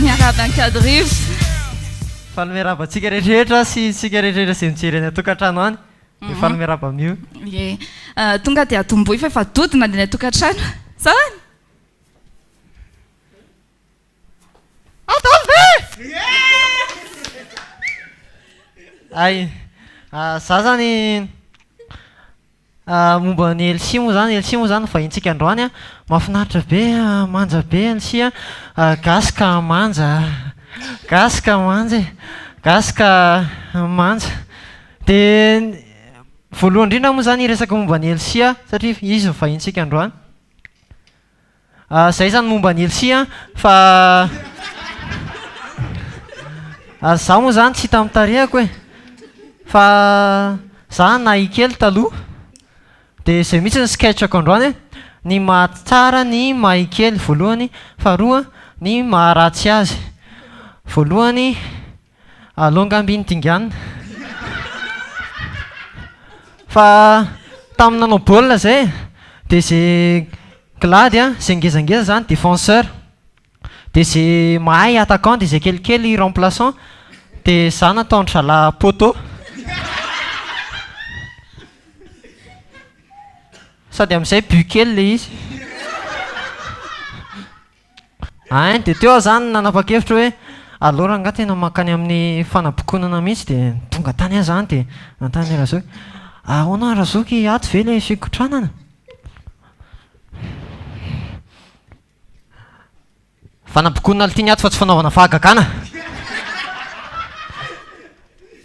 Miarahaba ankadirivo. Faly miarahaba antsika rehetrarehetra sy isika rehetrarehetra izay mijery any an-tokantrano any. Dia mhm. faly miarahaba amin'io. Ie. Ah, tonga dia atomboy fa efa dodona any an-tokantrano. Sao any? Adalo ve? Hay, za zany momba an'i Elsie moa zany, Elsie moa zany no vahinintsika androany an, mahafinaritra be, manja be Elsie an, gasy ka manja, gasy ka manja e, gasy ka manja, dia voalohany indrindra moa zany hiresaka momba an'i Elsie aho satria izy no vahinintsika androany. Ah zay zany momba an'i Elsie an, fa ary za moa zany tsy hita amin'ny tarehako e! Fa za nahay kely taloha, dia zay mihitsy ny sketch-ko androany e! Ny mahatsara ny mahay kely voalohany, faharoa ny maharatsy azy. Voalohany, Alou nga ambiny dingana. Fa tamin'ny nanao baolina izay dia izay glady an, izay ngezangeza izany défenseur, dia izay mahay attaquant dia izay kelikely remplaçant, dia izaho nataon-dry zalahy poteau. Sady amin'izay but kely ilay izy. Ein, dia teo aho izany nanapa-kevitra hoe aleo rangahy tena mankany amin'ny fanabokonana mihitsy dia tonga tany aho izany dia nanontany an'i Razoky, ahoana Razoky ato ve ilay fikotranana? Fanabokonana ity ny ato fa tsy fanaovana fahagagana!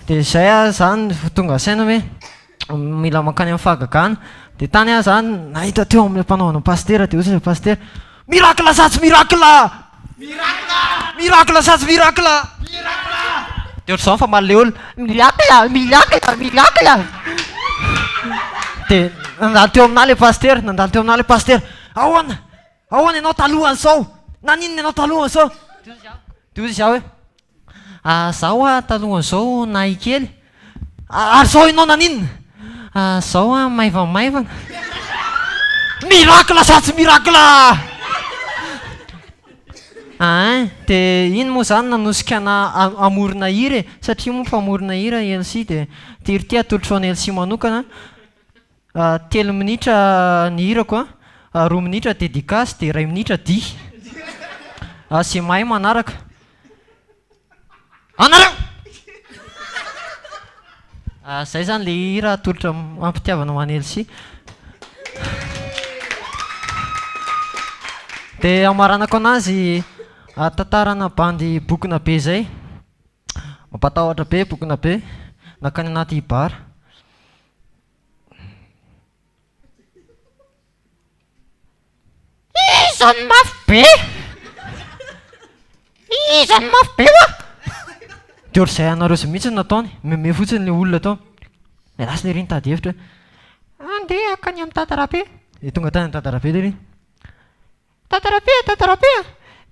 Dia izay aho izany vao tonga saina hoe. mila mankany amin'ny fahagagana dia tany aho zany nahita teo amin'ilay mpanao anao pasitera dia hoy ilay pasitera miracle sa tsy miracle miracle miracle sa tsy miracle miracle dia ohatr'izao fa maleola miracle miracle miracle dia nandalo teo aminà ilay pasitera nandalo teo aminà ilay pasitera ahoana Ahoana ianao talohan'izao? Naninona ianao talohan'izao? Dozy aho hoe, ah, izaho hoa talohan'izao nahay kely. Ah, ary izao ianao naninona? Ah, izao hoa maivamaivana. Miracle sa tsy miracle? Ain, dia iny moa izany nanosika anah hamorona hira e, satria moa mpamorona hira i Elsy dia ity ry ity atolotrao an'i Elsy manokana. Telo minitra ny hirako an, roa minitra dedicace dia iray minitra dihy. Izay mahay manaraka. Anareo! Izay izany ilay hira atolotra am-pitiavana ho an'i Elsy. Dia hamaranako anazy tantarana bandy bokona be izay. Mampatahotra be bokona be, nankany anaty bar. Iza no mafy be? Iza no mafy be hoa? Dia ohatr'izay anareo izay mihitsy no nataony, mihomehy fotsiny ilay olona tao. Niala siny ery nitady hevitra hoe, Andeha hankany amin'i Dadarabe. Dia tonga tany amin'i Dadarabe lery. Tatarapia e tatarapia!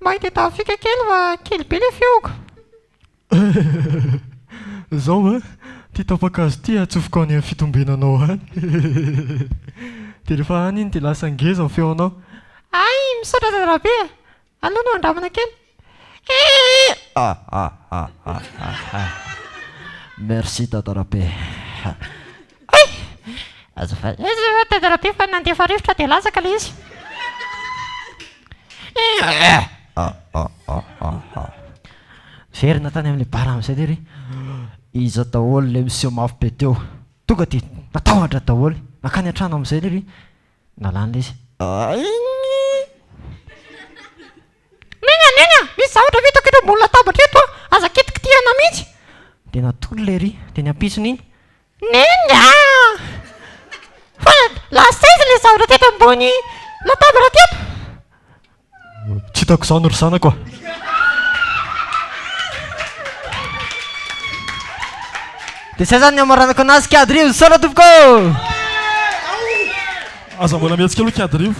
Mba itedavo fika kely fa kely be le fihogo. Zao an, ty tapa-kazo ty atsofoko any am fitombenanao any. Dia rehefa any iny dia lasa ngeza ny feonao. Hay, misaotra tatarapia. Aleo no andramana kely. Merci Dada Rabe. Azafady eh Dada Rabe fa nandefa rivotra dia latsaka ilay izy. Miverina tany amin'ny bara amin'izay dia ry iza daholo ilay miseho mafy be teo. Tonga dia natahotra daholo, nankany an-trano amin'izay dia ry nalana ilay izy. Neny neny a! Misy zavatra vitako eto ambony latabatra eto a! Aza kitikitihana mihitsy! Dia natolony ilay ry teny ampitsony iny. Neny a! Fa lasa aiza ilay zavatra teto ambony latabatra teto? Tsy hitako izany ry zanako a! Dia izay izany ny hamaranako anazy Kiadirivo, misaotra tompoko ô! Aza mbola mihetsi-kely hoy Kiadirivo.